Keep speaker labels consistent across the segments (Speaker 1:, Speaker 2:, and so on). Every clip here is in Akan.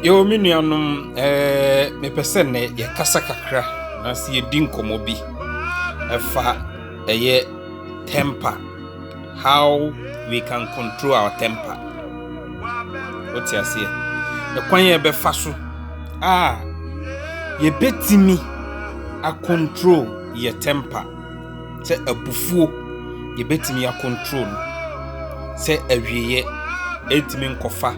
Speaker 1: Yo, me nuanom, eh, mepɛ sɛ nnɛ yɛkasa kakra na sɛ yɛdi nkɔmmɔ bi ɛfa ɛyɛ temper, how we can control our temper. Wote aseɛ? Ɛkwan yɛ bɛfa so a yɛbɛtumi a control yɛ temper. sɛ abufuo yɛbɛtumi acontrol no sɛ awieɛ ɛntumi nkɔfa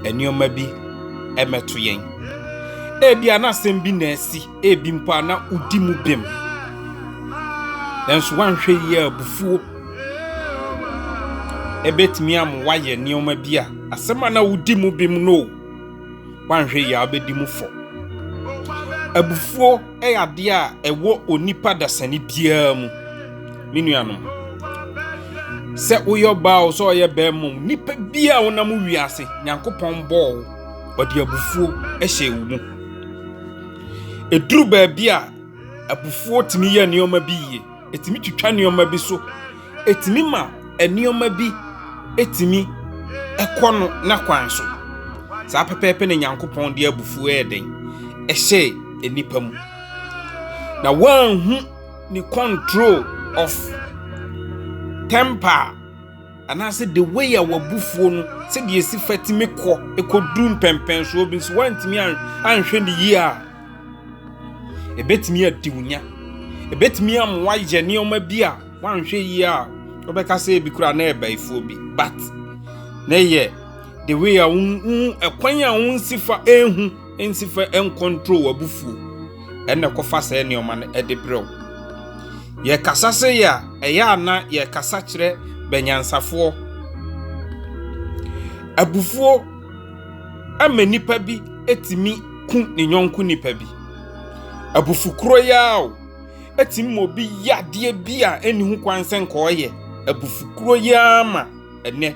Speaker 1: nneɛma bi mmɛto yɛn. Ebia na asɛm bi na asi, ebi mpo a na wodi mu bem. Nanso woanhwɛ yie a abufuo ɛbɛtumi ama woayɛ nneɛma bi a asɛm a na wodi mu bem no o. woanhwɛ yie a wobɛdi mu fɔ. Abufuo yɛ adeɛ a ɛwɔ onipa dasani biara mu. Me nuanom, sɛ woyɛ ɔbaa o, sɛ ɔyɛ bɛrima o, nipa biara a wonam wiase, Nyankopɔn bɔɔ wo, ɔde abufuo hyɛ wo mu. Ɛduru baabi a abufuo tumi yɛ nneɛma bi yie. ɛtumi twitwa nneɛma bi so ɛtumi ma nneɛma bi ɛtumi ɛkɔ no n'akwan so saa pɛpɛɛpɛ na nyankopɔn de abufuo ɛyɛ den ɛhyɛ nnipa mu na wɔanhu ne control of temper anaasɛ the way a w'abufuo no sɛdeɛ ɛsi fa tumi kɔ ɛkɔduru mpɛmpɛnsoɔ bi nso woantumi anhwɛ ne yie a ɛbɛtumi adi wo nya ɛbɛtumi ama woayɛ nneɛma bi a woanhwɛ yie a wobɛka sɛ bi koraa na ɛbaifoɔ bi but na ɛyɛ the way a wo ɛkwan a wonsi fa ɛhu Ntsi fa nkɔntrol w'abufuw na kɔfa saa nneɛma no de brɛ wo. Yɛkasa sei a, ɛyɛ a na yɛkasa kyerɛ bɛnyansafoɔ. Abufuo ma nipa bi tumi ku ne nyɔnko nipa bi. Abufukuro yi ara o, tumi ma obi yɛ adeɛ bi a ɛnni ho kwan sɛ nka ɔyɛ. Abufukuro yi ara ma ɛnnɛ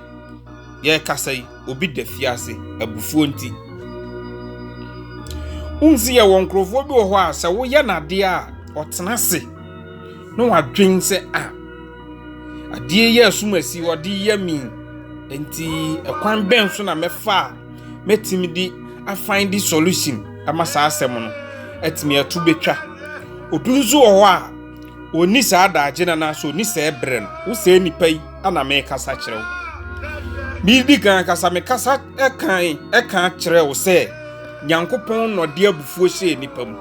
Speaker 1: yɛkasa yi. obi da fie ase abufuo nti. Wohu sɛ yɛwɔ nkurɔfoɔ bi wɔ hɔ a sɛ woyɛ no adeɛ a ɔtena ase na wadwen sɛ a adeɛ yɛ asum asi ɔde yɛ mi nti ɛkwan bɛn so na mɛfa a mɛtumi de afan de solution ama saa asɛm no atumi ato bɛtwa obi nso wɔ hɔ a ɔni saa daagye no anaasɛ ɔni saa ɛberɛ no wo sɛ nipa yi na mekasa kyerɛ wo. Medi kan kasa mekasa kan ɛka kyerɛ wo sɛ Nyankopɔn na ɔde abufuo hyɛɛ nipa mu.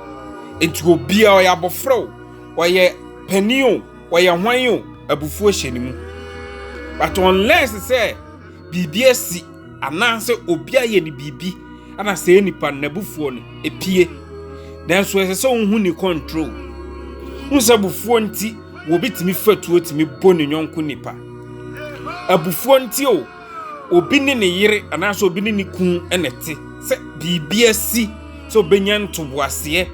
Speaker 1: Enti obiara ɔyɛ abɔfra o, ɔyɛ panin o, ɔyɛ hwan o, abufuo hyɛ ne mu. But unless sɛ biribi asi anaasɛ obi ayɛ ne biribi ana sɛ nipa no n'abufuo no epie. Nanso ɛsɛ sɛ wohu ne control. Wohu sɛ abufuo nti Obi tumi fa tuo tumi bɔ ne yɔnko nipa. Abufuo nti o, obi ne ne yere anaasɛ obi ne ne kun na ɛte sɛ biribi asi sɛ obɛnya ntoboaseɛ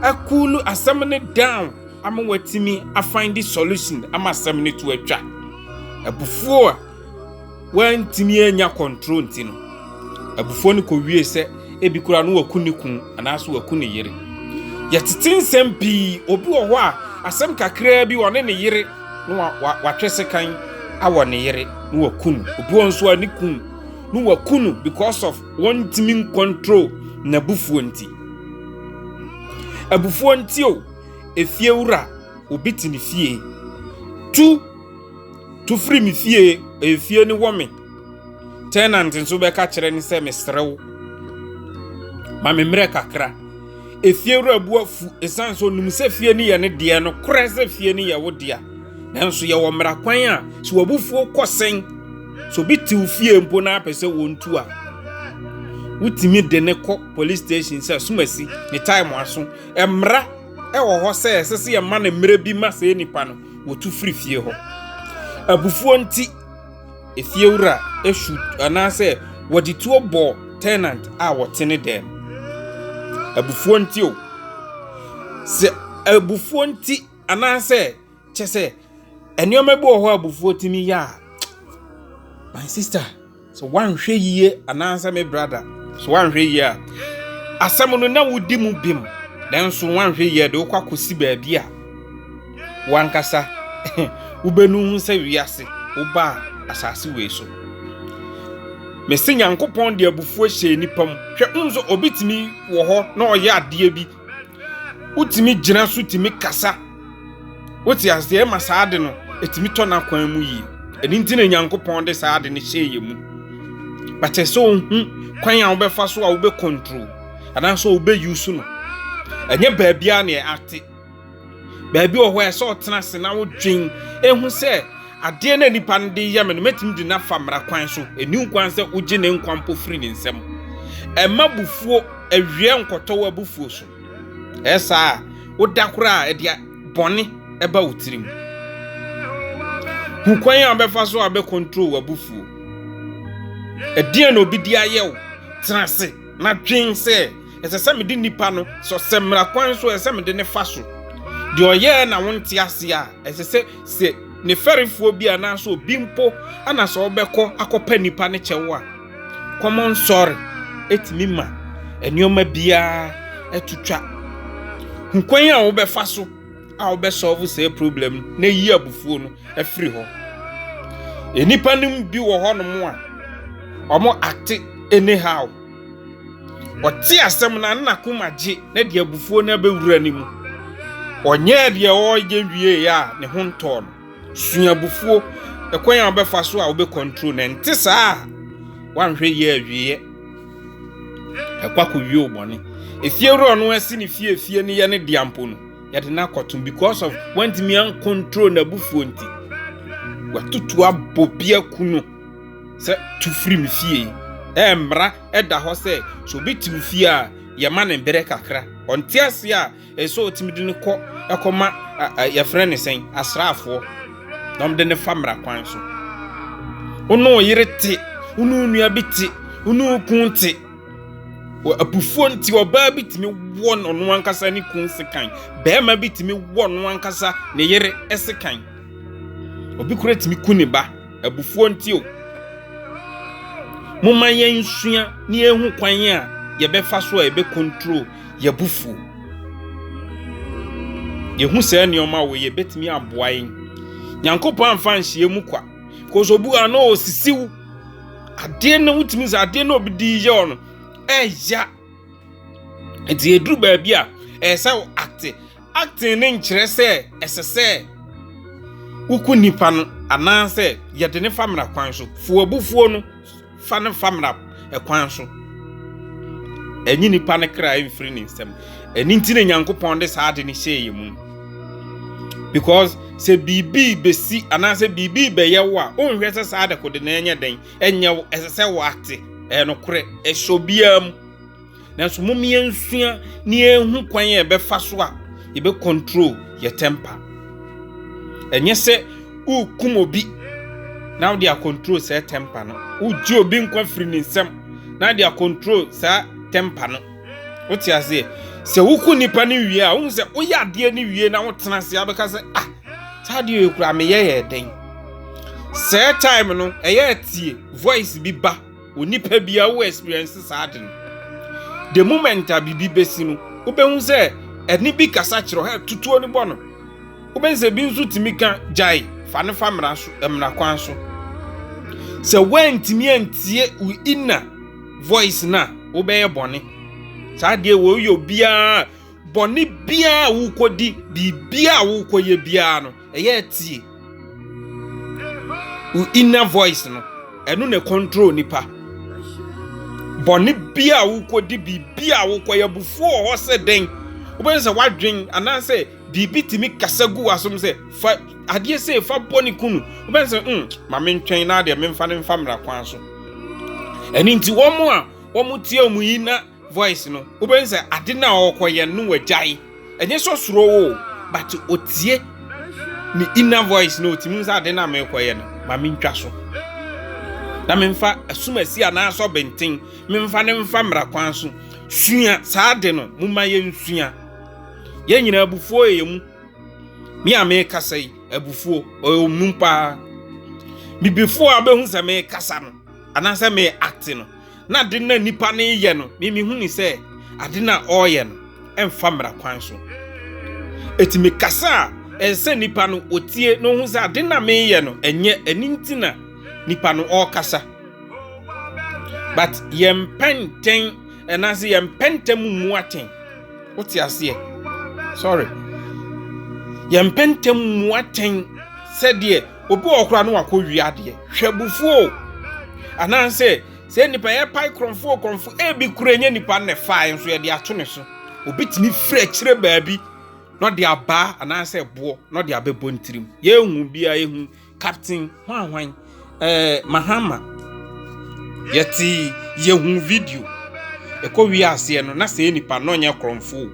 Speaker 1: akuulu asɛm no down ama watumi afind solution ama asɛm no to atwa. Abufuo a wantumi annya control nti no, abufuo no kɔwiee sɛ ebi koraa no waku ne kunu anaasɛ waku ne yere. Yɛtete nsɛm pii, obi wɔ hɔ a asɛm kakraa bi ɔne ne yere na wa- wa- watwe sekan awɔ ne yere na waku no. Obi wɔ hɔ nso a ne kunu na waku no because of wɔntumi ncontrol n'abufuo nti. Abufuo nti o, efiewura, obi te ne fie, tu Tu firi me fie, efie no wɔ me. Tenant nso bɛka kyerɛ no sɛ mesrɛ wo ma me mmerɛ kakra. Efie wura bu afu ɛsiane sɛ ɔnim sɛ fie no yɛ ne deɛ no korɛ sɛ fie no yɛ wo dea. Nanso yɛwɔ mmara kwan a sɛ wabufuo kɔ sɛn sɛ obi tew fie mpo na apɛ sɛ wɔntu a wotumi de ne kɔ police station sɛ asumasi ne time aso. Mmara ɛwɔ hɔ sɛ ɛsɛ sɛ yɛma no mmerɛ bi ma sɛ nipa no. wotu firi fie hɔ. Abufuo nti, efiewura su anaasɛ wɔde tuo bɔ tenant a wɔte ne dan mu. Abufuo nti o. Sɛ abufuo nti anaasɛ kyɛ sɛ nneɛma bi wɔ hɔ a abufuo tumi yɛ a, my sister. So wanhwɛ yie anaasɛ me brada so wanhwɛ yie a asɛm no na wodi mu bem nanso wanhwɛ yie de wokɔ akɔsi baabi a wankasa wobɛnu ho sɛ wiase wobaa asase wei so mese nyankopɔn de abufuo hyɛɛ nipa mu hwɛ nso obitumi wɔ hɔ na ɔyɛ adeɛ bi wotumi gyina so tumi kasa wote aseɛ ma saa ade no ɛtumi tɔ n'akwan mu yie ɛno nti na nyankopɔn de saa ade no hyɛ yɛ mu bɛkyɛ sɛ ohu kwan a wobɛfa so a wobɛkɔntro anaasɛ wobɛyi so no ɛnyɛ baabiara na ɛate Baabi wɔ hɔ a ɛsɛ ɔtena ase na wodwen ehu sɛ adeɛ na nipa no de yɛ me no mɛtumi de no afa mmara kwan so. Ɛni nkwan sɛ wogye ne nkwa mpo firi ne nsam. Ɛma bufuo awiɛ nkɔtɔ wo abufuo so. Ɛyɛ saa a, woda koraa a ɛde bɔne ɛba wo tirim. Hu kwan a wobɛfa so a wobɛkɔntro wo abufuo. Ɛdeɛn na obi de ayɛ wo? Tena ase na dwen sɛ Ɛsɛ sɛ mede nipa no sɔ sɛ mmara kwan so ɛsɛ sɛ mede ne fa so. Deɛ ɔyɛɛ na wonte ase a, ɛsɛ sɛ sɛ ne fɛrefoɔ bi anaasɛ obi mpo ana sɛ ɔbɛkɔ akɔpɛ nipa no kyɛw a, common sorry ɛtumi ma nneɛma biara ɛtutwa. Hu kwan a wobɛfa so a wobɛsɔlvo saa problem no na yi abufuo no afiri hɔ. Nnipa no bi wɔ hɔnom a wɔn ate anyhow. Ɔte asɛm no a na koma gye na de abufuo no abɛwura ne mu. Ɔnyɛɛ deɛ ɔreyɛ wieeɛ a ne ho ntɔɔ no. Sua abufuo, ɛkwan a wobɛfa so a wobɛkɔntro no. Ɛnte saa a, woanhwɛ yie a awieeɛ ɛkɔ akɔwie wo bɔne. Efiewura ɔno asi ne fie efie no yɛ ne dea mpo no, yɛde no akɔtom because of wantumi ankɔntro n'abufuo nti. Watutu abɔ bi aku no. Sɛ tu firi me fie. Ɛɛ mmara ɛda hɔ sɛ sɛ obi te wo fie a yɛma ne berɛ kakra. Ɔnte aseɛ a ɛsɛ ɔtumi de no kɔ ɛkɔma yɛfrɛ ne sɛn asraafoɔ na ɔmde ne fa mmara kwan so. Wone wo yere te, wone wo nua bi te, wone wo kun te. Apufuo nti ɔbaa bi tumi wɔ ɔno ankasa ne kun sekan. Bɛrima bi tumi wɔ ɔno ankasa ne yere sekan. Obi kura tumi ku ne ba. Abufuo nti o. Momma yɛnsua na yɛhu kwan a yɛbɛfa so a yɛbɛkontrol yɛabufuo. Yɛhu saa nneɛma wɔ yɛ bɛtumi aboa yɛn. Nyankopɔn amfa nhyia mu kwa. Because obu a na ɔsisiw. Adeɛ no wotumi sɛ adeɛ na obi di yɛ ɔno ɛya. Nti ɛduru baabi a ɛsɛ wo acte Acting no nkyerɛ sɛ ɛsɛ sɛ woku nipa no anaasɛ yɛde no fa mmara kwan so. Fu abufuo no, fa no fa mmara kwan so. Ɛnye nipa no kra mfiri ne nsam. Ɛno nti na Nyankopɔn de saa ade no hyɛɛ yɛn mu. Because sɛ biribi bɛsi anaasɛ biribi bɛyɛ wo a, wonhwɛ sɛ saa dekode no ɛnyɛ dɛn, ɛnyɛ wo, ɛsɛ sɛ woate. Ɛyɛ nokorɛ, ɛhyɛ obiara mu. Nanso mom yɛnsua na yɛnhu kwan a yɛbɛfa so a yɛbɛ control yɛ temper. Ɛnyɛ sɛ worekum obi na wode acontrol saa temper no. Wogye obi nkwa firi ne nsam na wode acontrol saa temper no. Wote aseɛ? Sɛ woku nipa no wie a, wohu sɛ woyɛ adeɛ no wie na wotena ase a wobɛka sɛ ah saa adeɛ yɛ kura meyɛ yɛ dɛn. Saa time no ɛyɛ atie voice bi ba. Onipa biara wo experience saa ade no. The moment a biribi bɛsi no, wobɛhu sɛ ɛne bi kasa kyerɛ hɛ tutuo no bɔ no. Wobɛhu sɛ bi nso tumi ka gyae fa no fa mmara so mmara kwan so. Sɛ woantumi antie wo inner voice no a wobɛyɛ bɔne. Saa deɛ wɔyɛ obiara bɔne biara a wokɔdi biribiara a wokɔyɛ biara no. ɛyɛ tie wo inner voice no ɛno na control nipa bɔne bi a wokɔdi biribi a wokɔyɛ abufuo wɔ hɔ sɛ dɛn wobɛhu sɛ woadwen anaasɛ biribi tumi kasa gu w'asom sɛ fa adeɛ sei fa bɔ ne kunu wobɛhu sɛ mm, ma mentwɛn na adeɛ memfa no mfa mmara kwan so ɛno nti wɔn a wɔn tie wɔn yi na voice no wobɛhu sɛ ade no a ɔrekɔyɛ no wagyae ɛnyɛ sɛ ɔsuro wo o but ɔtie ne inner voice no ɔtumi sɛ ade no a merekɔyɛ no ma mentwa so na memfa asumasi anaasɛ ɔbɛnten memfa no mfa mmara kwan so sua saa ade no moma yɛnsua yɛn nyinaa abufuo yɛ yɛn mu me a merekasa yi abufuo ɔyɛ ɔmu paa bibifoɔ a wobɛhu sɛ merekasa no anaasɛ me acte no Na ade no a nipa no reyɛ no, me mehu no sɛ ade no a ɔreyɛ no ɛmfa mmara kwan so. Eti mekasa a, ɛsɛ sɛ nipa no otie na ohu sɛ ade no a meyɛ no ɛnyɛ ɛno nti na nipa no ɔrekasa. But yɛmpɛ ntɛn ɛnaase yɛmpɛ ntɛm mmu atɛn. Wote aseɛ? Sorry. Yɛmpɛ ntɛm mmu atɛn sɛdeɛ Obi wɔ koraa no wakɔ wie adeɛ. Hwɛ abufuo o. Anaasɛ sɛ nipa yɛ pae korɔmfo korɔmfo ebi kura nyɛ nipa na ɛfae nso yɛde ato ne so. Obi tumi firi akyire baabi na ɔde abaa anaasɛ ɛboɔ na ɔde abɛbɔ ne tirim. Yɛnhu biara yɛhu Captain hwanhwan eh, Mahama. Yɛte yɛhu video. Ɛkɔ wie aseɛ no na sɛ nipa na ɔnyɛ korɔmfo o.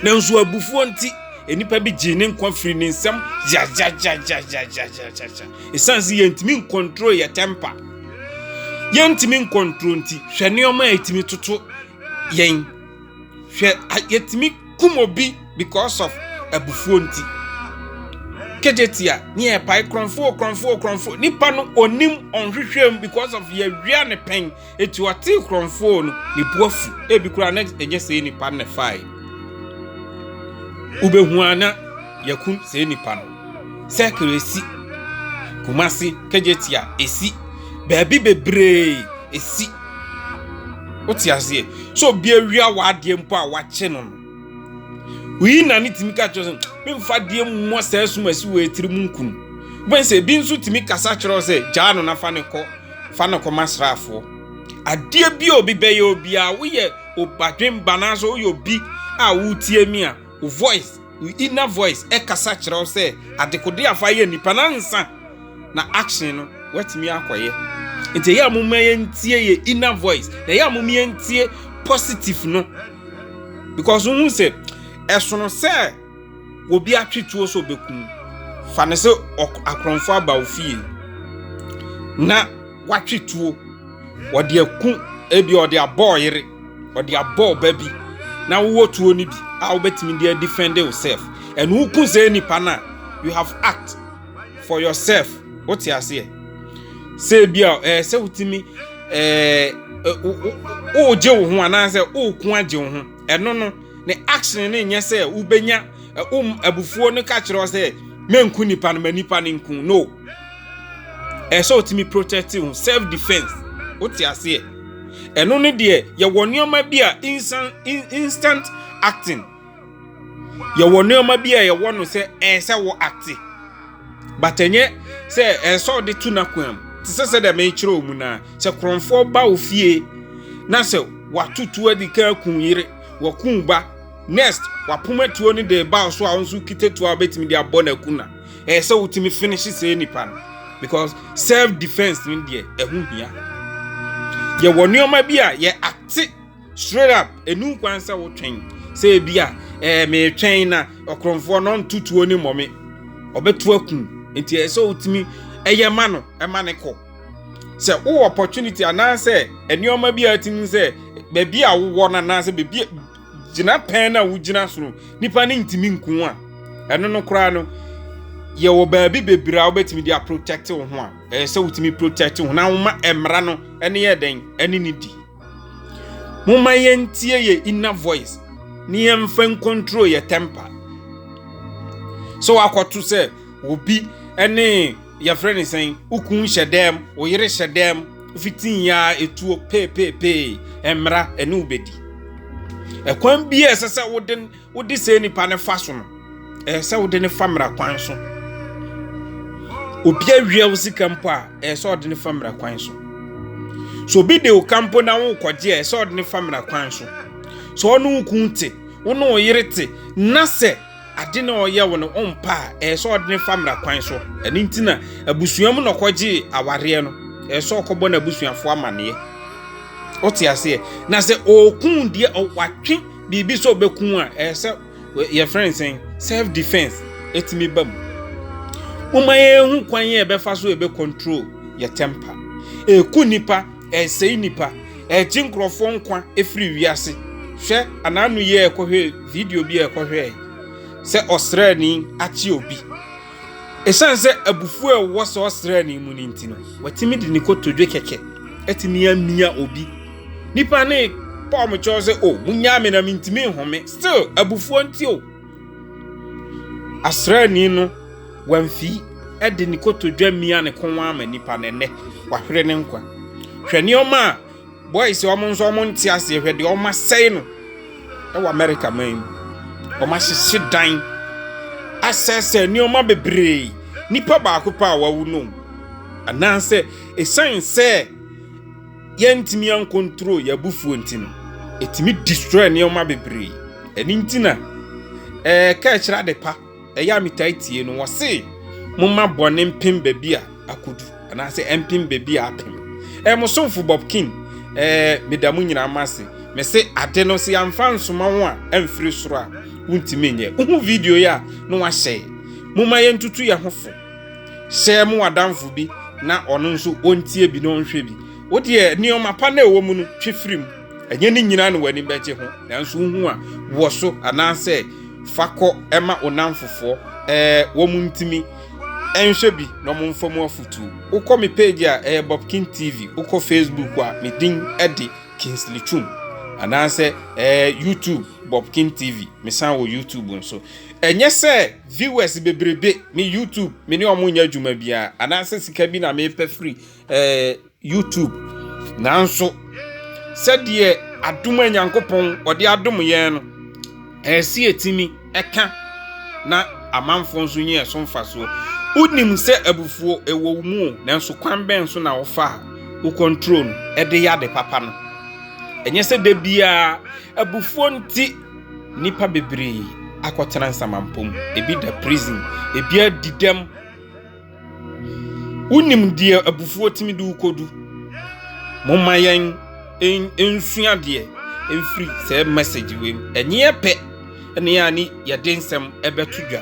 Speaker 1: Nanso abufuo nti, nnipa bi gyee ne nkwa firii ne nsam gyagyagyagyagyagyagya. Ɛsiane sɛ yɛntumi nkontrol yɛ tɛmpa, yɛntumi nkontrol nti, hwɛ nneɛma a ɛtumi toto yɛn. Hwɛ yɛtumi kum obi because of abufuo nti. Kejetia, ne yɛ pae korɔmfoɔ korɔmfoɔ korɔmfoɔ. Nipa no onim ɔnhwehwɛm because of yɛwia ne pɛn. Enti ɔtee korɔmfoɔ no, ne bo afu. Ebi koraa na ɛnyɛ saa nipa no na ɛfaeɛ. Wobɛhu a na yɛakum saa nipa no. Circle esi, Kumasi, Kejetia esi, baabi bebree esi. Wote aseɛ? So obi awia w'adeɛ mpo a wakye no no. wei na ne tumi ka kyerɛ sɛ memfa deɛ mmɔ saa asum asi wɔ atiri mu nkum wobɛn sɛ ebi nso tumi kasa kyerɛ sɛ gyaa no na fa ne kɔ fa ne kɔma asraafoɔ adeɛ bi a obi bɛyɛ obiara woyɛ obadwemba anaasɛ woyɛ obi a wotie mi a wo voice wo inner voice ɛkasa kyerɛ sɛ adekode afa yɛ nipa na nsa na action no watumi akɔyɛ nti ɛyɛ a momma yɛntie yɛ inner voice na ɛyɛ a momma yɛntie positive no because wohu sɛ ɛsono sɛ obi atwe tuo sɛ ɔbɛku mu fa no sɛ akorɔmfo aba wo fie na watwe tuo ɔde aku ebi ɔde abɔ ɔyere ɔde abɔ ɔba bi na wowɔ tuo no bi a wobɛtumi de adefend yourself ɛno woku sɛ nipa no a you have act for yourself wote aseɛ sɛ ebi a ɛɛ sɛ wotumi ɛɛ wogye wo ho anaasɛ woko agye wo ho ɛno no ne action no nyɛ sɛ wobɛnya wom abufuo no ka kyerɛ sɛ menku nipa no ma nipa no nku no ɛɛ sɛ wotumi protect wo self defense wote aseɛ ɛno no deɛ yɛwɔ nneɛma bi a instant acting yɛwɔ nneɛma bi a yɛwɔ no sɛ ɛyɛ sɛ wɔ ate but ɛnyɛ sɛ ɛyɛ sɛ ɔde to n'akoam te sɛ sɛ dɛ mekyerɛ ɔmu no a sɛ korɔmfoɔ ba wo fie na sɛ watoto adi ka aku yere waku ba next wapoma tuo no de ba so a wo nso kita tuo a wobɛtumi de abɔ no aku na ɛyɛ sɛ wotumi finish sɛ nipa no because self defense no deɛ ɛho hia yɛwɔ nneɛma bi a yɛ ate Straight up, ɛnu nkwan sɛ wotwɛn. Sɛ ebi a, ɛɛ meretwɛn na ɔkorɔmfoɔ no nto tuo ne mmɔ me. Ɔbɛto akum. Nti ɛyɛ sɛ wotumi ɛyɛ ma no, ɛma ne kɔ. Sɛ wowɔ opportunity anaasɛ nneɛma bi a ɛtumi sɛ baabi a wowɔ no anaasɛ baabi gyina pɛn no a wogyina so no, nipa no ntumi nku a, ɛno no koraa no, yɛwɔ baabi bebree a wobɛtumi de aprotect wo ho a, ɛyɛ sɛ wotumi protect wo ho na woma mmara no ɛne yɛ dɛn ɛne ne di. Momma yɛntie yɛ inner voice na yɛmfa nkontrol yɛ temper. Sɛ wakɔto sɛ obi ne yɛfrɛ ne sɛn, wo kun hyɛ dɛm, wo yere hyɛ dɛm, fitin yɛ a etuo peepeepee, mmara ɛne wo bɛdi. Ɛkwan bi a ɛsɛ sɛ wode Wode saa nipa no fa so no, ɛyɛ sɛ wode no fa mmara kwan so. Obi awia wo sika mpo a, ɛyɛ sɛ ɔde no fa mmara kwan so. So obi de wo ka mpo na wokɔgye a, ɛyɛ sɛ ɔde no fa mmara kwan so. Sɛ ɔne wo kun te, wo ne wo yere te, na sɛ ade na ɔyɛ wo no ɔmpa a, ɛyɛ sɛ ɔde no fa mmara kwan so. Ɛno nti na abusua mu na ɔkɔgye awareɛ no, ɛyɛ sɛ ɔkɔbɔ n'abusuafoɔ amanneɛ. Wote aseɛ? Na sɛ ɔkun deɛ, watwe biribi sɛ ɔbɛku a ɛyɛ sɛ yɛfrɛ no sɛn self defense ɛtumi ba mu woma yɛhu kwan yɛ ɛbɛfa so ɛbɛ control yɛ temper ɛku nipa ɛsɛe nipa ɛgye nkurɔfoɔ nkwa ɛfiri wiase hwɛ anaano yɛ ɛkɔhwɛ video bi a ɛkɔhwɛ sɛ ɔsrɛni akye obi Esiane sɛ abufuw a ɛwɔ saa ɔsraani mu no nti no, watumi de ne kotodwe kɛkɛ atumi amia obi. Nipa no repɔ mo kyɛw sɛ, o, munnyaa me na mintumi nhome. Still, abufuo nti o. Asraani no wamfi de ne kotodwe mia ne kɔn ama nipa no, ɛnɛ wahwere ne nkwa. Hwɛ nneɛma a Boys a wɔn nso wɔn nte aseɛ hwɛ deɛ wɔn asɛe no wɔ America man mu. Wɔn ahyehye dan, asɛsɛ nneɛma bebree. Nipa baako pa a wawu no. Anaasɛ ɛsiane sɛ yɛntumi ankontro yɛn abufuo nti no, ɛtumi destroy nneɛma bebree. Ɛno nti na ɛka ɛkyerɛ adepa. Ɛyɛ a metaa tie no, wɔse momma bɔne mpem baabi a akodu, anaasɛ ɛmpem baabi a apem. Ɛɛ, mo somfo Bob King, ɛɛ, meda mo nyinaa mo ase. Mese ade no, sɛ yɛamfa ansoma wo a amfiri soro a, wontumi nyɛ. Wohu video yi a, na wahyɛe. Momma yɛntutu yɛn ho fo. Hyɛ mo adamfo bi na ɔno nso ɔntie bi na ɔnhwɛ bi. Wo deɛ, nneɛma pa no a ɛwɔ mu no, twe firi mu. Ɛnyɛ ne nyinaa na w'ani bɛgye ho, nanso wohu a, wɔ so anaasɛ fa kɔ ma wo nnamfofoɔ, ɛɛ, wɔn ntumi nhwɛ bi na wɔn mfa mu afutuo. Wokɔ me page a ɛyɛ Bob King TV, wokɔ Facebook a, me din de Kingsley Twum, anaasɛ ɛɛ, YouTube Bob King TV, mesan wɔ YouTube nso. Ɛnyɛ sɛ viewers bebrebe, me YouTube, me ne wɔn nyɛ adwuma biara, anaasɛ sika bi na mepɛ firi ɛɛ. YouTube, nanso sɛdeɛ adom a Nyankopɔn ɔde adom yɛn no, ɛsɛ yɛtumi ɛka na amanfoɔ nso nyɛ ɛso mfasoɔ. Wonim sɛ abufuo ɛwɔ wo mu o, nanso kwan bɛn so na wofa a wo control no ɛde yɛ ade papa no? Ɛnyɛ sɛ da biara abufuo nti nnipa bebree akɔtena nsamampɔ mu, ebi da prison, ebi adi dɛm. Wonim deɛ abufuo tumi de wo kɔdu. Momma yɛn nsua deɛ ɛfiri saa message wei mu. Ɛnyeɛ pɛ ne a ne yɛde nsɛm ɛbɛto dwa.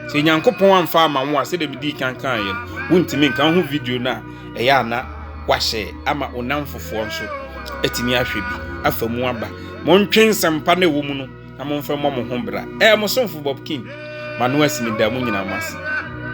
Speaker 1: Sɛ Nyankopɔn amfa ama wo a sɛdeɛ medii kan kaa yɛn, wontumi nka ho video no a ɛyɛ ana wahyɛ ama onamfofoɔ nso atumi ahwɛ bi afa mu aba. Montwe nsɛmpa na ɛwɔ mu no na momfa mmɔ mo ho bra. Ɛɛ mo somfo Bob King, m'ano asi meda mo nyinaa mo ase.